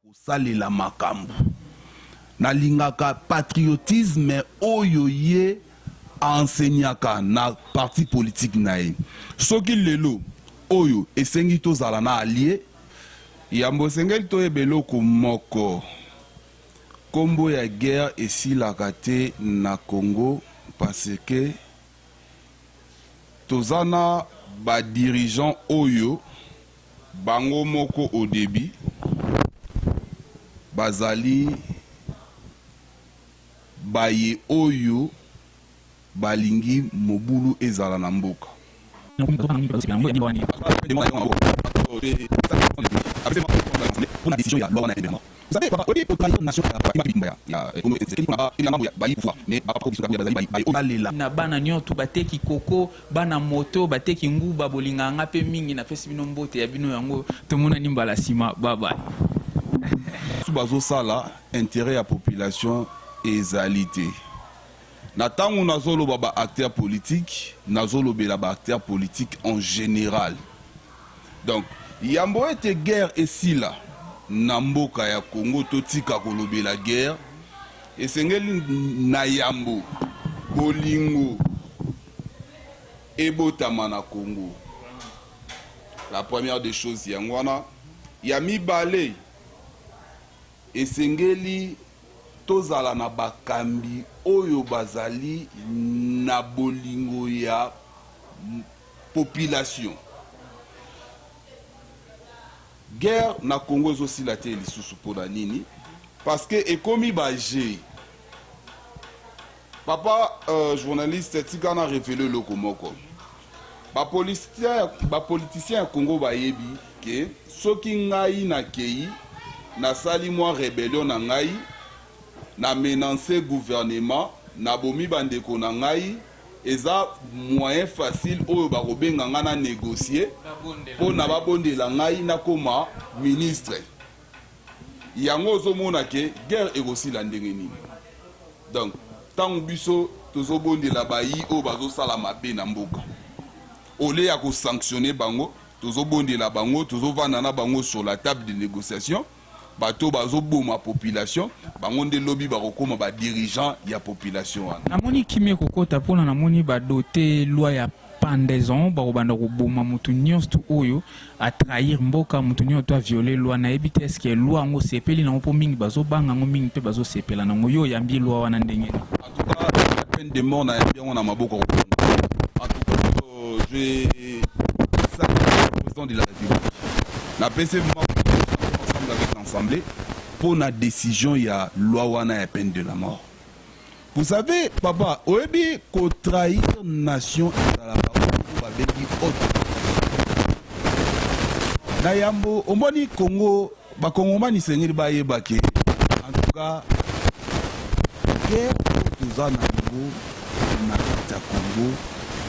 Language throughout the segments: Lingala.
kosalela makambu na lingaka patriotisme oyo ye a enseignaka na parti politique na ye soki lelo oyo esengi tozala na allie yambo esengeli toyeba eloko moko kombo ya guerre esilaka te na congo parce que toza na ba dirigeants oyo Bango moko au debut bazali baye oyo balingi mobulu ezala na mboka. Nzambe papa oyebi mpona yo nation ya baye bitumba ya ekono ezekeli mpona ba elanga ya bayi pouvoir mais papa okobiso kaka bazali baye oyo balela. Na bana nioto bateki koko bana moto bateki nguba bolingaka nga pe mingi na pesi bino mbote ya bino yango tomonani mbala sima bye bye. Batu bazo sala interet ya population ezali te. Na tango nazo loba ba acteurs politiques, nazo lobela ba acteurs politiques en general. Donc, yambo ete guerre esila na mboka ya Congo, totika kolobela guerre, esengeli na yambo bolingo ebotama na Congo. La première des choses yango wana. Ya mibale, Esengeli tozala na bakambi oyo bazali na bolingo ya population. Guerre na Congo ezo sila te lisusu pona nini? Parce que ekomi ba jeux. Papa euh, journaliste tika na revele eloko moko bapolitisien ya Congo bayebi ke soki ngai nakei nasali mwa rebellion na ngai na menance gouvernement nabomi bandeko na ngai eza moyen facile oyo bakobenga ngai na negocier mpo na babondela ngai nakoma ministre Yango ozo mona ke guerre eko sila ndenge nini? Donc tangu biso tozo bondela bayi oyo bazo sala mabe na mboka au lieu ya ko sanctionner bango tozo bondela bango tozo vanda na bango sur la table de negociation bato oyo bazo boma population bango nde lobi bako koma ba dirigeants ya population wana. Namoni kimia ekokota pona namoni ba dote loi ya. Pendaison bakobanda koboma mutu niostu oyo a trahir mboka mutu niotu a viole loi nayebi te est ce que loi yango osepeli nango po mingi bazo banga yango mingi pe bazo sepela nango yo oyambi loi wana ndenge nini? En tout cas la peine de mort nayambi yango na maboko ya gouvernement en tout cas euh, je salue le président de la République napesi vraiment ensemble avec l'Assemblée mpo na décision ya loi wana ya peine de la mort Vous savez, papa, oyebi ko trahir nation ezalaka oyo babengi haute. Na yambo omoni Congo, ba Kongomani sengeli bayeba ke en tout cas guerre oyo toza na yango na kati ya Congo,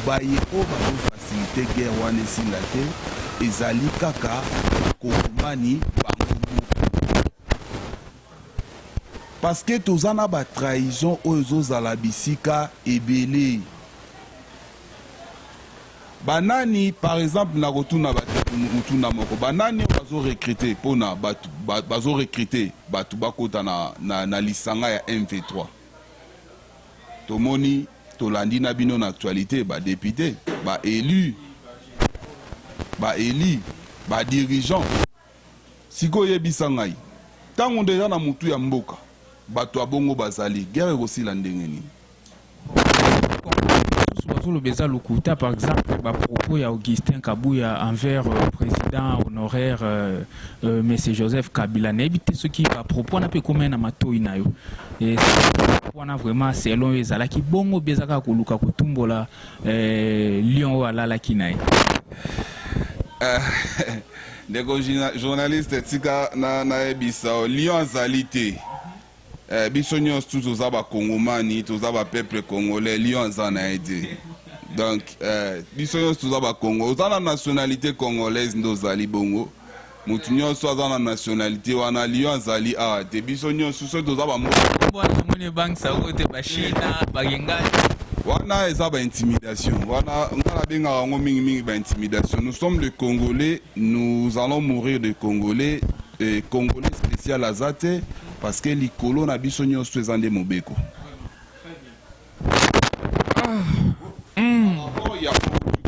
baye oyo bazo facilite guerre wana esila te ezali kaka Kongomani Parce que toza na ba trahison oyo ezo zala bisika ebele. Ba nani par exemple nako tuna ba mutuna moko ba nani oyo bazo recruter pona batu bazo recruter batu bakota na, na, na lisanga ya MV3 tomoni tolandi na bino na actualite ba depute ba elu ba eli ba dirigeant Sikoyo yebisa ngai tango dejà na mutu ya mboka batu ya bongo bazali guerre ekosila ndenge nini? bazoloba eza lokuta par exemple ba propos ya Augustin Kabuya envers euh, président honoraire euh, euh, monsieur Joseph Kabila nayebi te soki ba propos wana mpe ekomai na matoi na yo wana vraiment selon yo ezalaki bongo mpe ezaka koluka kotumbola euh, lion oyo alalaki na ye euh, Ndeko journaliste tika na nayebisa yo lion azali te eh, biso nyonso tu toza bakongomani toza bapeuple congolais lion aza na ye te donc eh, biso nyonso toza bakongo oza na nationalité congolaise nde ozali bongo motu nyonso aza na nationalité wana lion azali awa te biso nyonso soki toza bamoni ebangisa oyo te bashina bakengani wana eza baintimida intimidation wana nga nabengaka yango mingi mingi ba intimidation nous sommes les congolais nous allons mourir de congolais eh, congolais spécial aza te parce que likolo na biso nyonso eza nde mobeko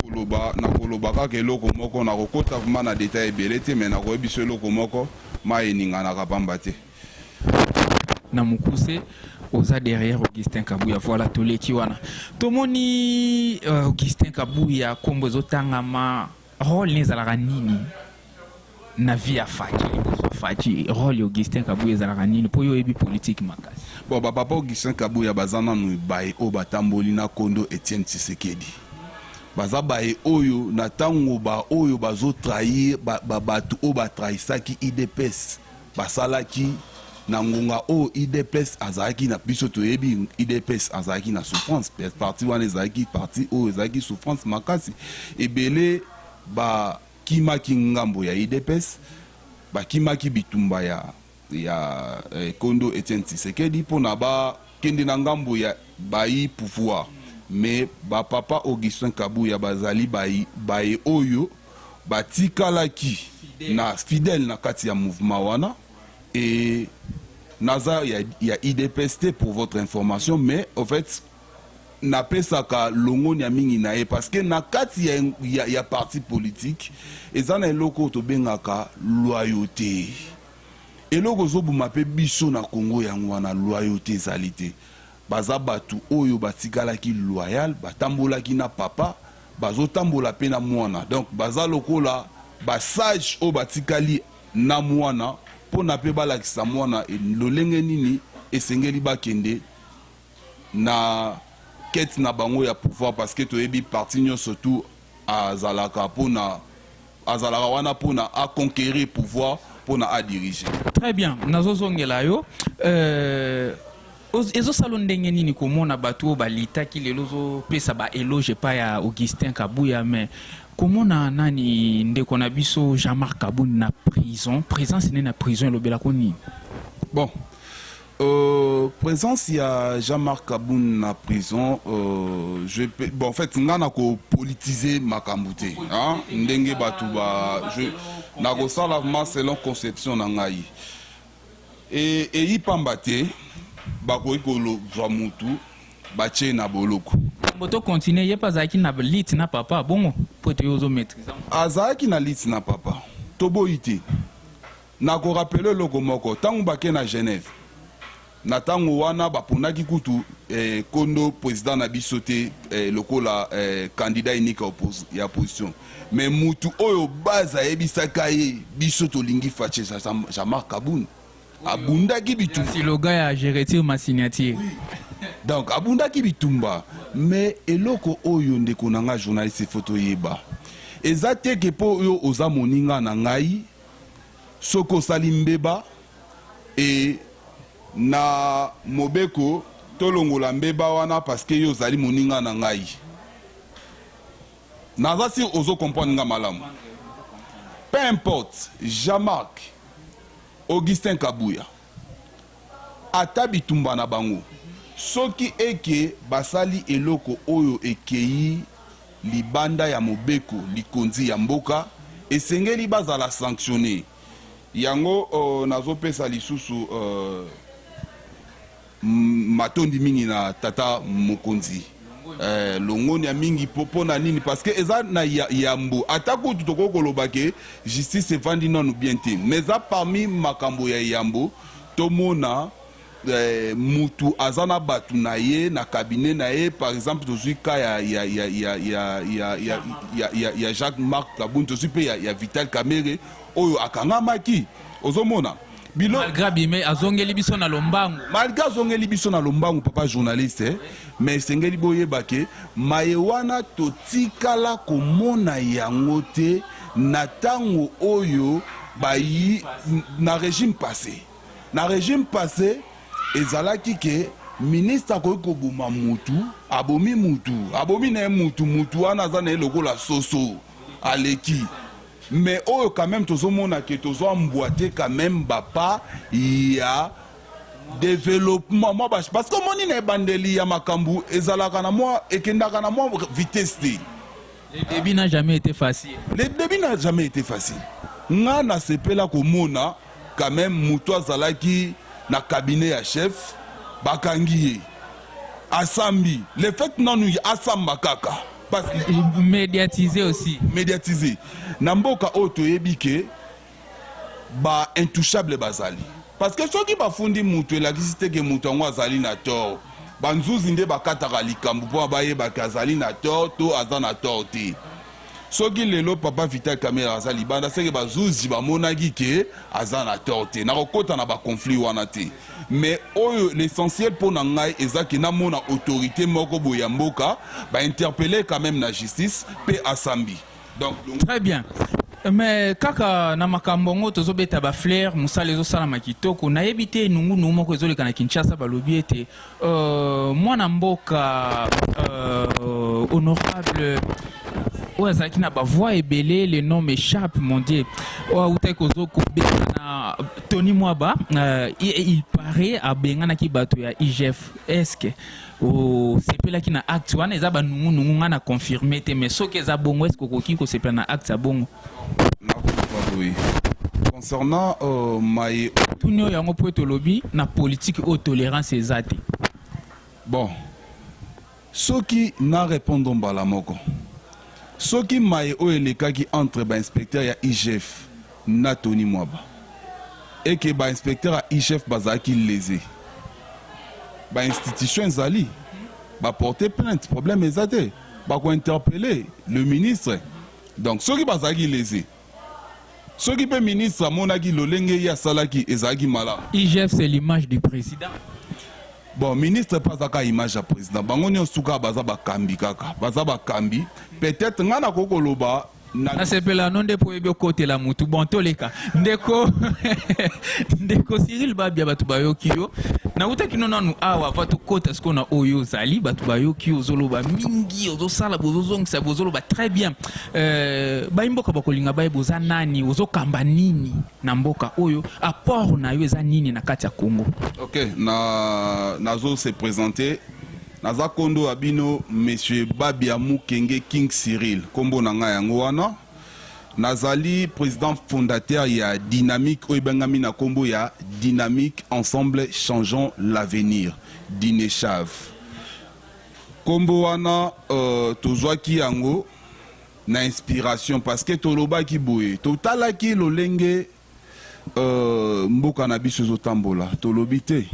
koloba nakoloba kaka eloko moko nakokota vrema na detail ebele te mai nakoyebi biso eloko moko mai eninganaka pamba te na mukuse oza derrière Augustin Kabuya voilà toleki wana tomoni euh, Augustin Kabuya kombo ezotangama role ne ezalaka nini na vie ya Fatshi liboso ya Fatshi role ya Augustin Kabuya ezalaka nini mpo yo oyebi politique makasi bon ba papa Augustin Kabuya baza nanu baye oyo batamboli na kondo Etienne Tshisekedi baza baye oyo na ntango baoyo bazotrahir bato ba, ba, oyo batrahisaki idps basalaki na ngonga oyo udps azalaki na biso toyebi udps azalaki na souffrance parti wana ezalaki parti oyo ezalaki souffrance makasi ebele bakimaki ngambo ya udps bakimaki bitumba ya ya eh, kondo etienne tshisekedi mpo na bakende na ngambo ya bayi pouvoir me bapapa augustin kabuya bazali baye oyo batikalaki na fidèle na kati ya mouvement wana et naza ya udps te pour votre information mais au fait napesaka longonia mingi na ye parce que na kati ya, ya, ya parti politique eza na eloko oyo tobengaka loyauté eloko ezoboma mpe biso na congo yango wana loyauté ezali te Baza batu oyo batikalaki loyal, batambolaki na papa, bazotambola pe na muana, donc baza lokola ba sages oyo batikali na muana pona pe balakisa muana lolenge nini esengeli bakende na quete na bango ya pouvoir, parce que toyebi parti nionso tout. Azalaka pona azalaka wana pona a conquerir pouvoir pona a diriger. Très bien, nazo zongela yo euh, ezosala ndenge nini komona bato oyo balitaki lelo ozopesa ba eloge epai ya augustin kabuya mais komona nani ndeko na biso jean marc kabund na prison présence nde na prison elobelako nini bon Euh, presence ya Jean-Marc Kabund na prison euh, je peux bon en fait nga na ko politiser makambo te hein ndenge bato ba je na ko sala vraiment selon conception na ngai et eyi pamba te bakoki kozwa mutu batie na boloko boto continue ye mpe azalaki na lit na papa bongo mpo ete yo ozo maîtrise azalaki na lit na papa toboyi te Na ko rappeler eloko moko, tango ba ke na Genève, na tango wana ba ponaki kutu eh, kondo president na biso te eh, lokola eh, candidat unique ya, oppos ya opposition. Mais mutu oyo base ayebisaka ye biso tolingi Fatshi, eza Jean-Marc Kabund. Abundaki bitumba. Siloga ya je retire ma signature. Oui. Donc abundaki bitumba. Mais eloko oyo ndeko na nga journaliste faut toyeba. Eza te ke po yo oza moninga na ngai Soki osali mbeba et na mobeko tolongola mbeba wana parce que yo ozali moninga na ngai. Naza sur ozo comprendre nga malamu. Peu importe, Jean-Marc, Augustin Kabuya, Ata bitumba na bango, soki eke basali eloko oyo ekeyi libanda ya mobeko likonzi ya mboka, esengeli bazala sanctionner. Yango nazo pesa lisusu matondi mingi na tata mokonzi. Eh, longonia mingi po po na nini parce que eza na yambo ata kutu tokoki koloba ke justice evandi nanu bien te mais eza parmi makambo ya yambo tomona eh, mutu aza na bato na ye na kabine na ye par exemple tozwi ka ya, ya, ya, ya, ya, ya, ya, ya, ya, ya jacques marc kabuni tozwi mpe ya, ya vital kamere oyo akangamaki ozomona Bilo... malgré abimi azongeli biso na lombangu malgré azongeli biso na lombangu papa journaliste eh? mais esengeli boyeba ke maye wana totikala komona yango te na ntango oyo bayi na régime passé na régime passé ezalaki ke ministre akoki koboma mutu abomi mutu abomi na ye mutu mutu wana aza na ye lokola soso aleki Mais oyo quand meme tozo mona que tozo emboite quand meme ba pas ya developpement mwa ba parce que omoni na ebandeli ya makambu ezalaka na mwa ekendaka na mwa vitesse te. Le debut n'a jamais ete facile. Le debut n'a jamais ete facile. Nga na sepela komona quand meme mutu azalaki na cabinet ya chef bakangi ye asambi le fait nanu asamba kaka Mediatise aussi. Mediatise. Na mboka oyo toyebi ke ba intouchable bazali. Parce que soki bafundi mutu elakisi te ke mutu yango azali na tort. Banzuzi nde bakataka likambo mpo bayeba ke azali na tort to aza na tort te. soki lelo papa vital kamera aza libanda seke bazuzi bamonaki ke aza na tort te nakokota na baconflit wana te Mais oyo l'essentiel pona ngai eza ke namona autorite moko boye ya mboka ba interpelle quand meme na justice pe asambi donc Très bien. Mais kaka na makambo yango tozobeta ba flair mosala ezosalama kitoko nayebi te enungunu moko ezoleka na kinshasa balobi ete Mwana mboka honorable oyo azalaki na bavoi ebele le nom m'echappe mon dieu oyo autaki kozo kobeta na tony mwaba euh, il paraît abenganaki bato ya igf eske osepelaki na acte wana eza banungunungu ngai na confirme te mais soki eza bongo eske okoki kosepela na acte ya bongo concernant euh, maye tuni oyo yango mpo ete olobi na politiki oyo tolerance eza te bon soki na répondre mbala moko soki maye oyo elekaki entre bainspecteur ya igf na tony mwaba eke bainspecteur ya igf bazalaki lese bainstitution ezali baporte plainte problème eza te bakointerpele le ministre Donc soki bazalaki lese, soki pe ministre amonaki lolenge ye asalaki ezalaki malamu. IGF c'est l'image du president. Bon ministre pe aza kaka image ya president bango nionso kaka baza bakambi kaka baza bakambi peut etre ngai nakoki koloba na. Nasepela no nde po oyebi okotela mutu bon toleka. ndeko ndeko cyril babia bato bayoki yo nautaki no nanu awa va tokota sikoyo na oyo ozali bato bayoki yo ozoloba mingi ozosala bozozongisa bozoloba très bien euh, bayi mboka bakolinga baye boza nani ozokamba nini na mboka oyo apport na yo eza nini na kati ya congo ok na nazo se présenter naza kondo ya bino monsieur babia mukenge king cyril nkombo na ngai yango wana Nazali president fondateur ya dynamique oyo ebengami na kombo ya dynamique ensemble changeons l'avenir Dinechav. Kombo wana euh, tozwaki yango na inspiration parce que tolobaki boye, totalaki lolenge Euh, mboka na biso ezotambola tolobi te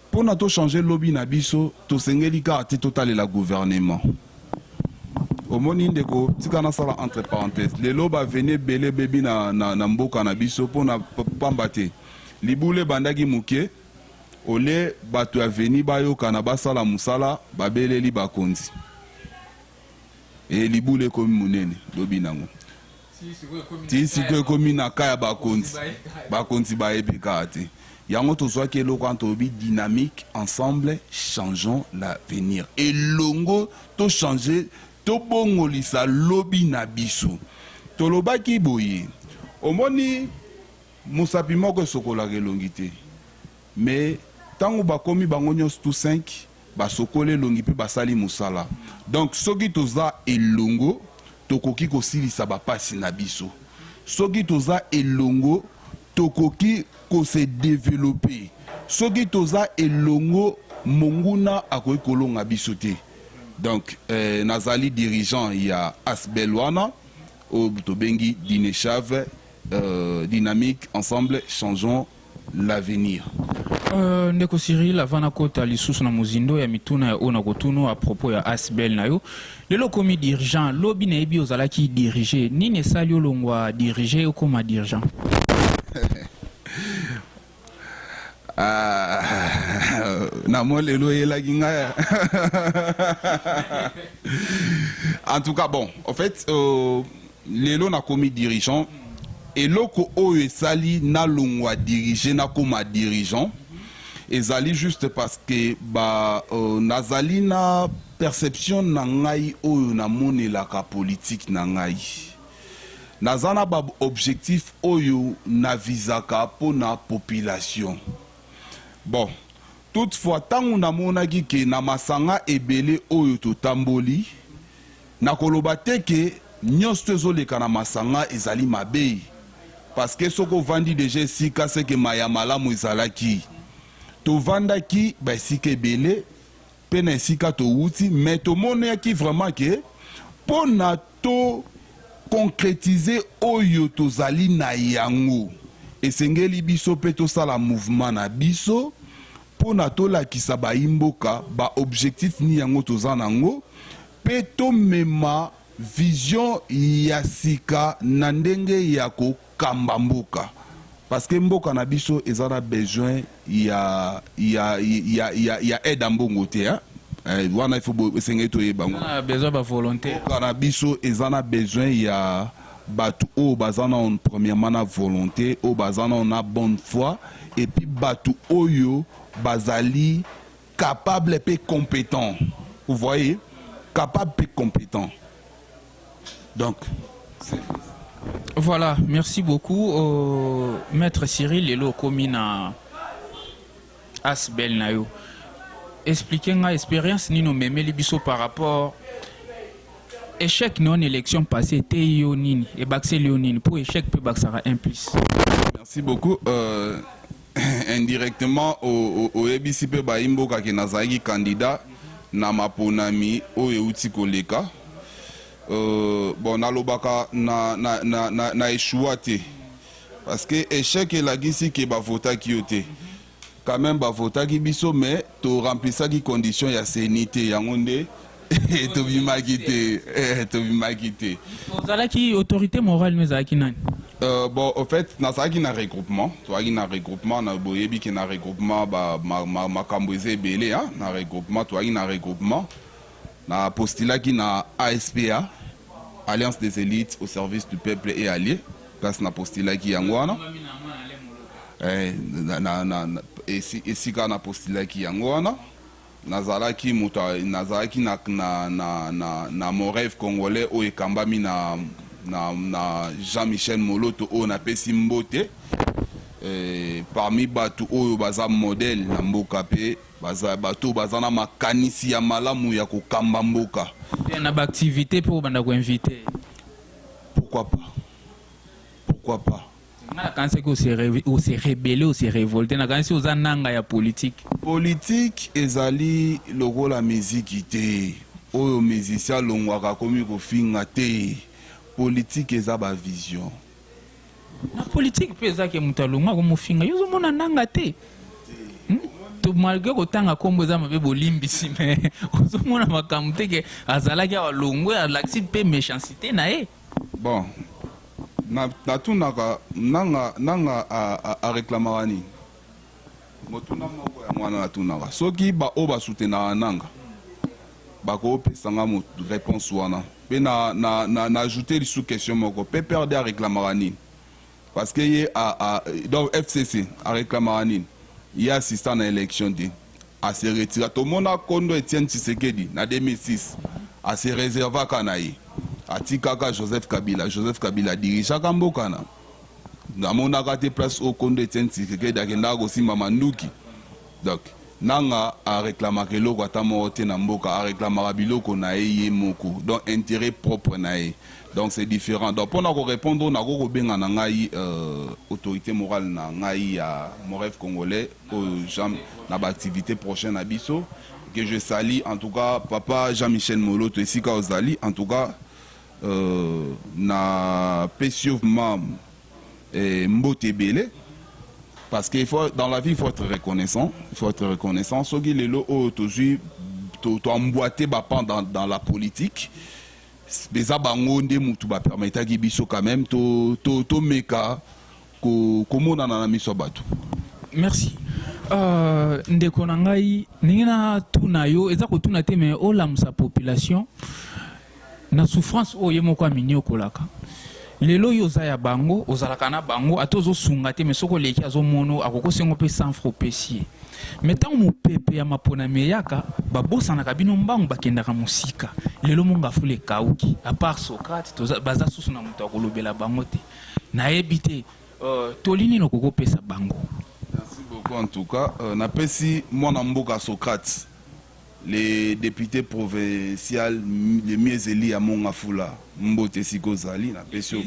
mpo na tochange lobi na biso tosengeli kaka te totalela gouvernement omoni ndeko tika nasala entre parenthèse lelo baveni ebele ebebi na, na, na mboka na biso mpo na pamba te libula ebandaki moke ole bato ya veni bayokana basala mosala babeleli bakonzi e libula ekomi monene lobi nango tii sikoyo ekomi na ka ya bakonzi bakonzi bayebi kaka te yango tozwaki eloko wana tolobi dynamique ensemble changeons l'avenir elongo tochange tobongolisa lobi na biso tolobaki boye omoni mosapi moko esokolaka elongi te mais ntango bakomi bango nyonso tu 5 Basokoli elongi mpe basali mosala. Donc, soki toza elongo, tokoki kosilisa ba pasi na biso. Soki toza elongo, tokoki ko se developper. Soki toza elongo, monguna akoki kolonga biso te. Donc, eh, nazali dirigeant ya Asbl wana oyo tobengi Dinechave, eh, Dynamique Ensemble Changeons. l'avenir. Euh, ndeko Cyril, avant nakota lisusu na mozindo ya mituna ya oyo nakotuno à propos ya asbel na yo, lelo okomi dirigeant, lobi nayebi ozalaki dirige. Nini esali olongwa dirige okoma dirigeant? Ah, na mwa lelo oyelaki ngai en tout cas bon en fait euh, Lelo na komi dirigeant eloko oyo esali na longwa dirige na koma dirigeant ezali juste parce que ba na zali na perception na ngai oyo na monelaka politique na ngai na za na ba objectif oyo na visaka pona population bon toute fois tango na monaki que na masanga ebele oyo to tamboli Nakoloba te que niosto ezo leka na masanga ezali mabe parce que soki ovandi dejà esika ce que ma ya malamu ezalaki. Tovandaki ba esika ebele pe na esika towuti mais tomoniaki vraiment que pona to concretiser oyo tozali na yango esengeli biso pe tosala mouvement na biso pona tolakisa bayi mboka ba objectifs ni yango toza nango. mpe tomema vision ya sika na ndenge ya ko kamba mboka parce que mboka na biso eza na besoin ya ya ya ya ya aide ya mbongo te hein eh, wana il faut esengeli toyeba ngo na besoin ba volontaire mboka na biso eza na besoin ya bato oyo baza na on premièrement na volonté oyo baza na na bonne foi et puis bato oyo bazali Capable pe competent. Vous voyez? Capable pe competent. Donc, Voilà, merci beaucoup. Euh, Maître Cyril, lelo okomi na Asbel na yo. Expliquez nga expérience nino memeli biso par rapport échec non élection passée te yo nini et baxel yo nini pour échec peut baxara 1 plus. Merci beaucoup. Euh, Indirectement oyebisi mpe bayi mboka que nazalaki candidat na maponami oyo ewuti koleka. Bon, nalobaka na echoua te parce que echec elakisi que ba votaki yo te. Quand meme ba votaki biso mais To remplisaki condition ya ceni te yango nde tobimaki te eh, tobimaki te. Ozalaki autorité morale no ezalaki nani? Euh, bon, au fait, nazalaki na regroupement, toyaki na regroupement, na boyebi ke na regroupement ba makambo ma, ma eza ebele, hein? na regroupement, toyaki na regroupement. Na postulaki na ASPA, Alliance des Elites au Service du Peuple et Allies, place na postulaki yango wana. Eh, na, na, na, na, esi, esika na postulaki yango wana. Nazalaki moto nazalaki na na na na, na mon rêve congolais oyo ekambami na na, na Jean-Michel Moloto oyo napesi mbote. Eh, parmi bato oyo baza modèle na mboka pe Baza batu oyo baza na makanisi ya malamu ya ko kamba mboka. Bien na ba activites pe obanda ko inviter. Pourquoi pas? Pourquoi pas? Nga na kanisi ke o se rebeller, o se revolter. Na kanisi oza nanga ya politique. Politique ezali lokola miziki te. Oyo musicien alongwaka akomi ko finga te. Politique eza ba vision. Na politique pe eza ke mutu alongwa ko mofinga yo ozo mona nanga te hmm? to malgré kotanga kombo eza mabe bolimbisi me ozo mona makambo te ke azalaki awa longwe alakisi pe méchanceté na ye bon natunaka nanga nanga areklamaka nini Motuna moko yango wana natunaka soki ba oyo ba soutenaka nanga bako pesa nga reponse wana pe na na na ajouter lisusu question moko PPRD a reclamaka nini parce que ye a a donc FCC a reclamaka nini ye assista na election te a se retira tomona kondo Etienne Tshisekedi na 2006 a se reservaka na ye atikaka Joseph Kabila Joseph Kabila a dirigeaka mboka na namonaka te place oyo kondo etienne tshisekedi akendaka kosimba manduki donc nanga areklamaka eloko ata moko te na mboka areklamaka biloko na ye ye moko donc intérêt propre na ye donc c'est différent donc mpo na korépondre oyo nakoki kobenga na ngai euh, autorité morale na ngai ya moref congolais oyo jean na baactivité prochain na biso que je sali en tout cas papa jean michel moloto esika ozali en tout cas Euh na pesi yo vmam eh, mbote ebele parce que faut, dans la vie il faut être reconnaissant, il faut être reconnaissant. Soki lelo oyo tozui to, to emboîter ba pan dans, dans la politique beza bango nde mutu ba permetaki biso quand même to to to meka ko komonana na miso ya batu. Merci euh, ndeko na ngai ndenge natuna yo eza kotuna te me olamusa population na souffrance oyo ye moko aminyokolaka lelo oyo oza ya bango ozalaka na bango ata ozosunga te me soki oleki azomono akokosengo mpe sans fro pesi ye me ntango mopepe ya maponami eyaka babosanaka bino mbangu bakendaka mosika lelo mongafula ekauki apart socrate baza susu na moto akolobela bango te Nayebi te toli nini okoki kopesa bango. Merci beaucoup en tout cas euh, napesi mwana mboka Socrate le depute provincial le mieux eli ya Mongafula mbote esika ozali napesi yo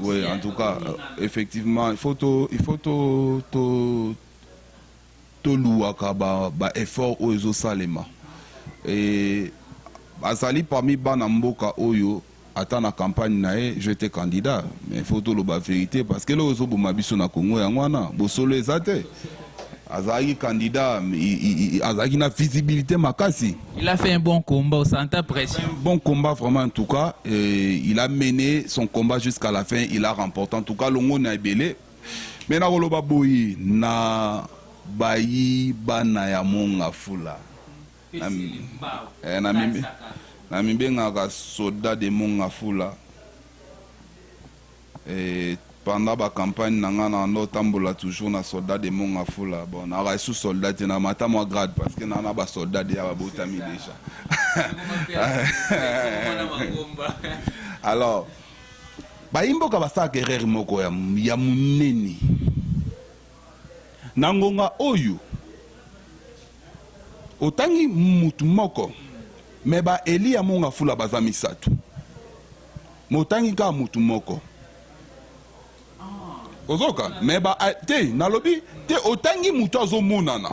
oui en tout cas euh, effectivement il faut to il faut to, to To louaka ba ba efforts oyo ezo salema et azali parmi bana mboka oyo ata na campagne na ye je te candidat mais faut to loba verite parce que eloko ezo boma biso na Congo yango wana bosolo eza te azalaki candidat azalaki na visibilite makasi. Il a fait un bon combat, on sentait pression. Un bon combat vraiment en tout cas et il a mené son combat jusqu'à la fin, il a remporté en tout cas longo na ebele. Mais nakoloba boye na bayi bana ya Monga Fula na mibengaka soda de Monga Fula pendant ba campagne na nga na no tambola toujours na soda de Monga Fula bon na ka sous soldat te na mata mwa grade parce que na na ba soda de ya ba botami deja alors bayimboka basalaka erreur moko ya, ya monene na ngonga oyo otangi mutu moko me ba eliya monga fula baza misato motangi kaka mutu moko ozoka me ba eh, te nalobi te otangi mutu azomonana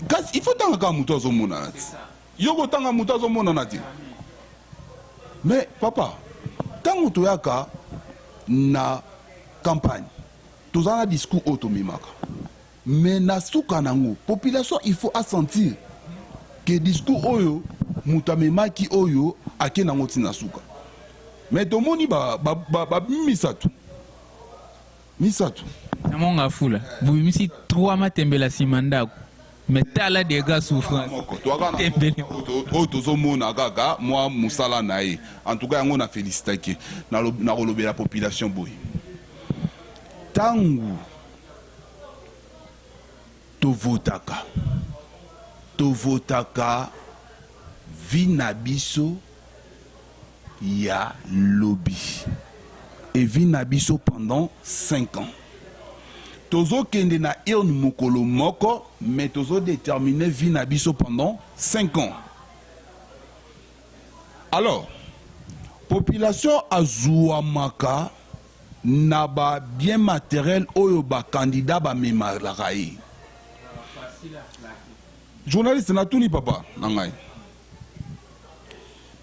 kasi il faut tanga kaka mutu azomonana te Yo kotanga mutu azo monana te mais papa tango toyaka na campagne toza na discours oyo tomemaka mais na suka nango population il faut a sentir que discours oyo mutu amemaki oyo ake nango ti na suka mais tomoni ba, ba, ba, ba misato Misato. Na mont ngafula bobimisi trois matembela sima ndaku mais tala degat souffrance tembele moko. Oyo tozo mona kaka mwa musala na ye en tout cas yango na felicitaki ye nako lobela population boye tangu to votaka to votaka vie na biso ya lobi et vie na biso pendant cinq ans tozo kende na urne mokolo moko mais tozo determiner vie na biso pendant cinq ans alors population azuamaka na ba bien materiel oyo ba candidat ba memalaka ye journaliste na tuni papa na ngai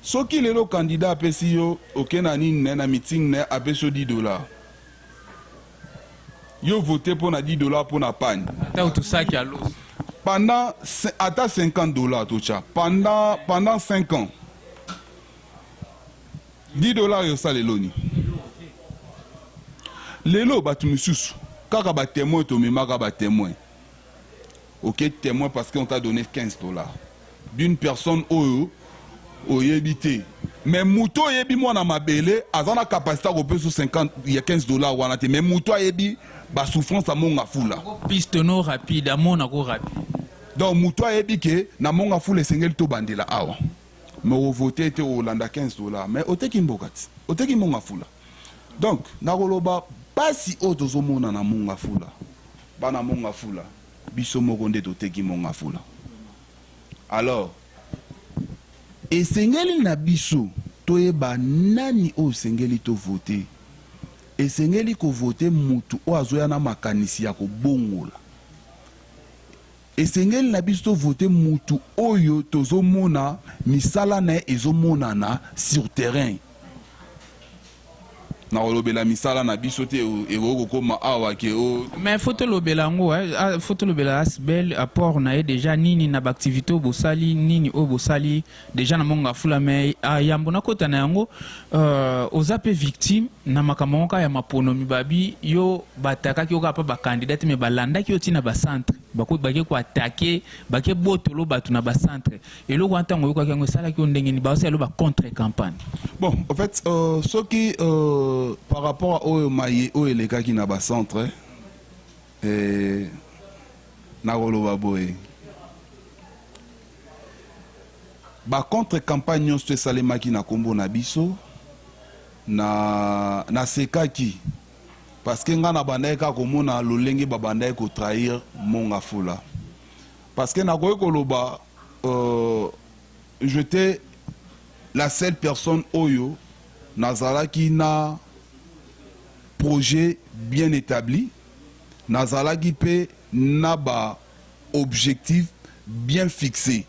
Soki lelo candidat apesi yo oke na nini naye na meeting naye apesi yo 10 dollars yo vote pona 10 dollars pona pagne ata otusaki ya loso pendant ata 50 dollars totia pendant pendant 5 ans 10 dollars yo sala eloni lelo batu misusu kaka ba temoin tomemaka ba temoin Ok temoin parce qu'on t'a donne 15 dollars d'une personne oyo oyebi te mais moto oyebi mwana mabele aza na capacité ya kopesa 50 ya 15 dollars wana te mais moto ayebi ba souffrance ya monga fula Piste no rapide, amona ko rapide. donc moto ayebi ke na monga fula esengeli tobandela awa mais ovote te olanda 15 dollars mais oteki mboka ti oteki monga fula donc nakoloba pasi oyo tozomona na monga fula Bana mongafula biso moko nde toteki mongafula alors esengeli na biso toyeba nani oyo esengeli to vote esengeli ko vote mutu oyo azoya na makanisi ya kobongola Esengeli na biso to voter mutu oyo tozo mona misala na ye ezo monana sur terrain. Nako lobela misala na biso te ekoki ko koma awa ke oh. Mais faut to lobela yango hein, faut to lobela asbl apport na ye dejà nini na ba activites oyo bosali nini oyo bosali. deja na mongo afula me uh, yambo nakota na yango uh, oza mpe victime na makambo moko ya mapono mibabi yo batakaki oka mpa bakandidate me balandaki yo ntina bacentre bake koatake bake botolo bato na bacentre eloko wana ntango oyokaki yango esalaki yo ndenge nini baosi aloba contre campagne bon en fait uh, soki uh, par rapport a oyo maye oyo elekaki na bacentre Ee, nakoloba boye, ba contre-campagnes nyonso esalemaki na nkombo na biso, na, nasekaki, parce que ngai nabandaki kaka komona lolenge babandaki ko trahir Monga Fula. Parce que nakoki koloba, euh, j'etais la seule personne oyo, Nazalaki na projet bien etabli, nazalaki pe na ba objectifs bien fixes.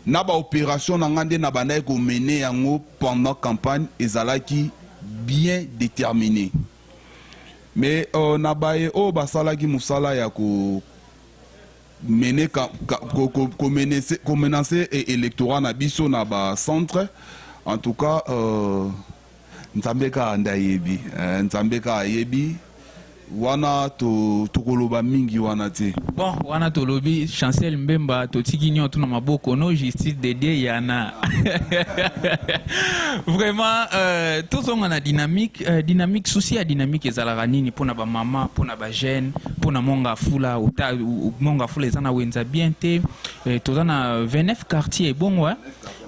Na ba operations na ngai nde nabandaki ko mener yango pendant campagne, ezalaki bien determiner. Mais na baye oyo basalaki mosala ya ko. mener ko menece ko menance electorat na biso na ba centre en tout cas nzambe kaka nde ayebi nzambe kaka ayebi wana to tokoloba mingi wana te. Bon wana tolobi chancel mbemba totiki niotu na maboko no justice de Dieu ya na vraiment euh tozonga na dynamique dynamique souci ya dynamique ezalaka nini pona ba maman pona ba ba jeune mpo na mont ngafula uta mont ngafula eza na wenza bien te eh, toza na 29 quartier ebongo eh?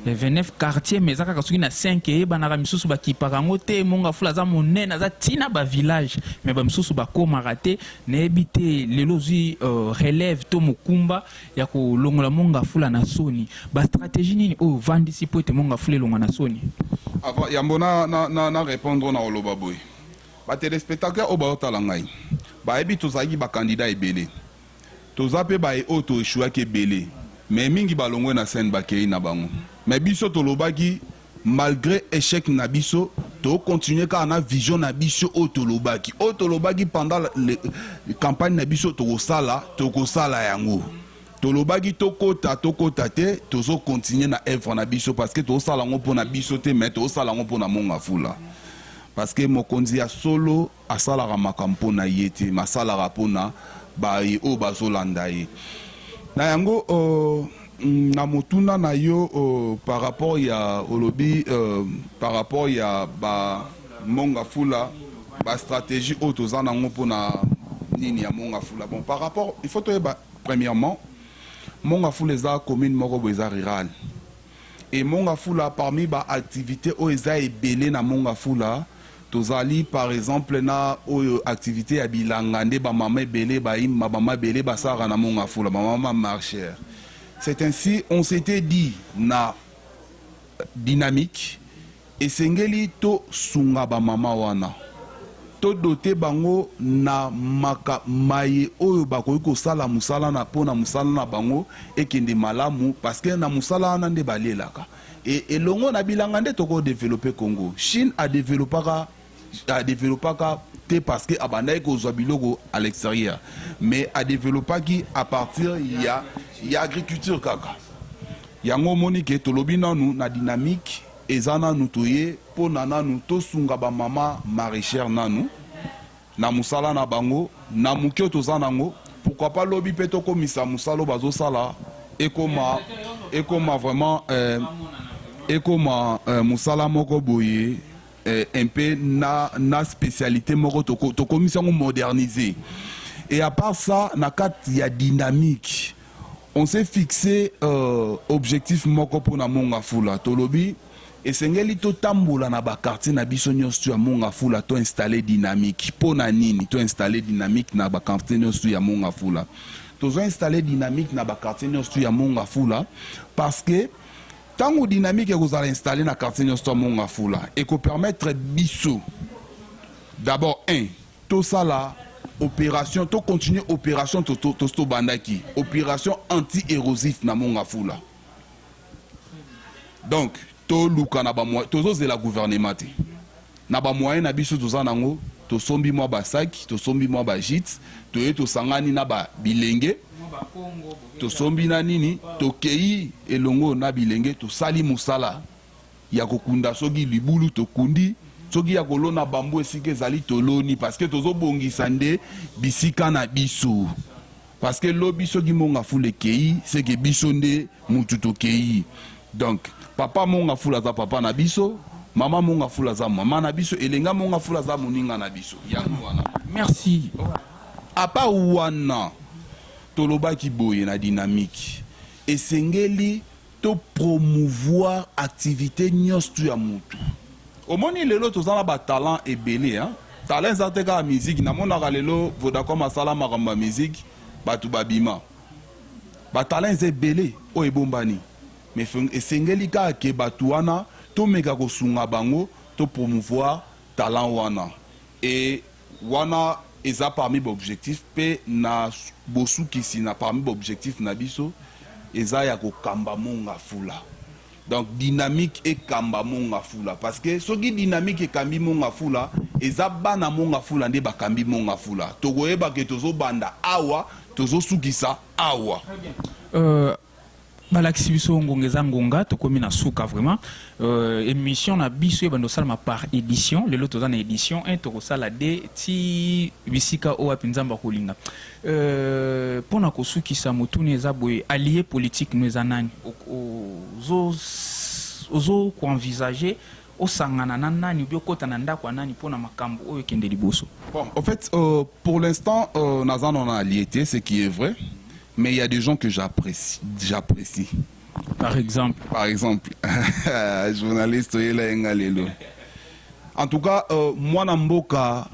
29 eh, quartier mais eza kaka soki na 5 eyebanaka misusu bakipaka yango te mont ngafula aza monene aza ntina bavillage mais bamisusu bakomaka te nayebi te lelo ozwi uh, relève to mokumba ya kolongola mont ngafula na soni bastratégie nini oyo ovandisi mpo ete mont ngafula elonga na soni yambo na, na, na, na répondre na oloba boye Ba telespectateurs oyo bazo tala ngai bayebi tozalaki ba candidats ebele, toza pe baye oyo to echouaki ebele mais mingi balongwe na scène bakeyi na bango mais biso tolobaki malgre echec na biso to continuer kaka na vision na biso oyo tolobaki oyo tolobaki pendant campagne na biso tokosala tokosala yango. Tolobaki tokota tokota te tozo continuer na œuvre na biso parce que tozo sala yango pona biso te mais tozo sala yango pona Monga Fula parce que mokonzi ya solo asalaka makambo pona ye te mais asalaka pona baye oyo bazo landa ye na yango euh, Mm, na motuna na yo uh, par rapport ya olobi uh, par rapport ya ba monga fula ba stratégie oyo toza nango mpona nini ya monga fula bon par rapport il faut toyeba Premièrement mongafula eza commune moko boye eza rurale et mongafula parmi ba activites oyo eza ebele na mongafula tozali par exemple na oyo activite ya bilanga nde ba mama ebele ba ba mama ebele basalaka na mongafula ba mama marcher c'est ainsi on s'était dit na dynamique Esengeli to sunga ba mama wana, to doter bango na maka maye oyo bakoki kosala musala na pona musala na bango ekende malamu parce que na musala wana nde balelaka et elongo na bilanga nde toko developper Congo. Chine a developaka a developaka te parce que abandaki kozwa biloko à l'extérieur mais a developaki à partir ya, ya agriculture kaka yango omoni ke tolobi nanu na dynamique eza nanu toye mpo na nanu tosunga bamama maraîchère nanu na mosala na bango na moke oyo toza nango pourquoi pas lobi mpe tokomisa mosala oyo bazosala ekoma ekoma vraiment euh, ekoma euh, mosala moko boye eh, un peu na, na spécialité moko tokomisi yango modernisé et à part ça na kati ya dynamique on s'est fixé euh, objectif moko mpo na monga fula tolobi esengeli totambola na bakartier na biso nyonso tu ya monga fula to installe dynamique mpo na nini to installe dynamique na bakartier nyonso tu ya monga fula tozo installe dynamique na bakartier nyonso tu ya monga fula parce que Tango dynamique ekozala installer na quartier nionso to Mont Ngafula, eko permettre biso d'abord un tosala operation to continuer operation tosi tobandaki operation anti erosif na Mont Ngafula donc toluka na ba moyens tozozela gouvernement te Na ba moyen na biso toza nango tosombi mwa ba sac tosombi mwa ba gite toye tosangani na ba bilenge tosombi na nini tokeyi elongo na bilenge tosali musala ya kokunda soki libulu tokundi soki ya kolona bambou esika ezali toloni parce que tozobongisa nde bisika na biso. Parce que lobi soki monga fula ekeyi seke biso nde mutu tokeyi donc papa monga fula aza papa na biso maman monga fula aza maman na biso elenga monga fula aza moninga na biso yango wana merci apa wana tolobaki boye na dynamique esengeli To promouvoir activite nionso tu ya mutu. Omoni lelo toza na ba talents ebele hein. Talent eza te kaka musique. Na monaka lelo Vodacom asala makambo ya musique batu ba bima. Ba talents eza ebele oyo ebombani. Mais esengeli kaka que batu wana to meka ko sunga bango to promouvoir talent wana. Et. Wana eza parmi ba objectif pe na bosukisi na parmi ba objectif na biso eza ya ko kamba Mongafula donc dynamique ekamba Mongafula parce que soki dynamique ekambi Mongafula eza bana Mongafula nde bakambi Mongafula toko yeba que tozo banda awa tozo sukisa awa. balakisi biso ngonga eza ngonga tokomi na suka vraiment euh, émission na biso ebanda osalama par édition lelo toza na édition 1 tokosala de ti bisika oyo wapi nzambe akolinga euh, mpo na kosukisa motuni eza boye allié politique no eza nani ozo ozo koenvisage Osangana na nani ou bien okota na ndaku ya nani po na makambu oyo ekende liboso? Bon au fait pour l'instant naza na na allie te ce qui est vrai mais il ya des gens que j'apprecie j'apprecie par exemple par exemple journaliste oyela ye nga lelo en tout cas mwana mboka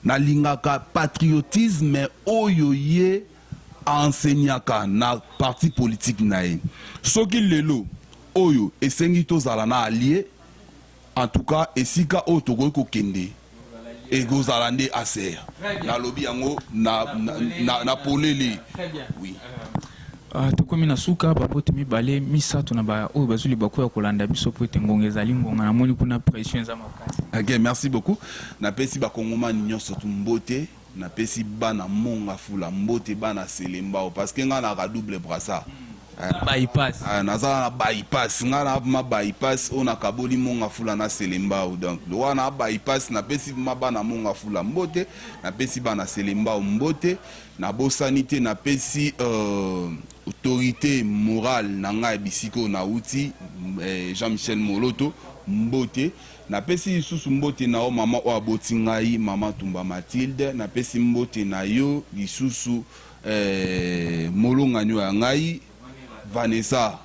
na lingaka patriotisme oyo ye a enseignaka na parti politique na ye soki lelo oyo esengi tozala na allie en tout cas esika oyo tokoki kokende ekozala nde ACR nalobi yango na polele oui. Ah, tokomi na suka, baboti mibale misato na ba oyo bazwi libaku ya kolanda biso mpo ete ngonga ezali ngonga. Namoni kuna pression eza makasi. Ok, merci beaucoup. Napesi bakongomani nyonso tu mbote. Napesi bana monga fula mbote bana selembao parce que nga naka double brassard eh, naza na bypass nga na ma bypass oyo nakaboli monga fula na selembao donc lokola na bypass napesi ma bana monga fula mbote napesi bana selembao mbote nabosani te napesi euh, autorité morale na ngai ya bisika oyo nauti eh, Jean-Michel Moloto mbote Napesi lisusu mbote na yo mama oyo aboti ngai, mama Tumba Mathilde. Napesi mbote na yo lisusu molongani oyo ya ngai Vanessa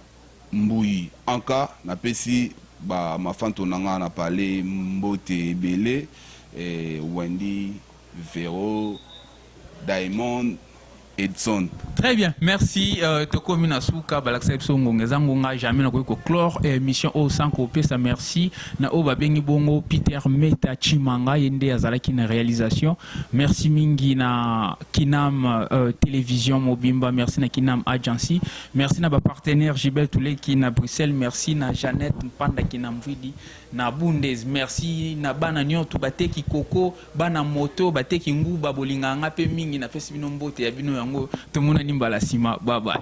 Mbuyi. En cas napesi ba mafanto na ngai na palais mbote ebele, Wendy, Vero. Diamond Edson. Très bien, merci. Euh, tokomi na suka balakisa biso ngonga eza ngonga, jamais nakoki ko clore eh, émission oyo sans kopesa merci na oyo babengi bongo Peter Meta Chimanga, ye nde azalaki na réalisation. Merci mingi na Kinam euh, télévision mobimba, merci na Kinam Agency, merci na ba partenaires Jibel Tuleki na Bruxelles, merci na Jeannette Mpanda Kinamvidi na Bundes, merci na bana nyoto bateki koko Bana moto, bateki nguba, bolingaka nga pe mingi, napesi bino mbote ya bino yango, tomonani mbala sima, bye bye.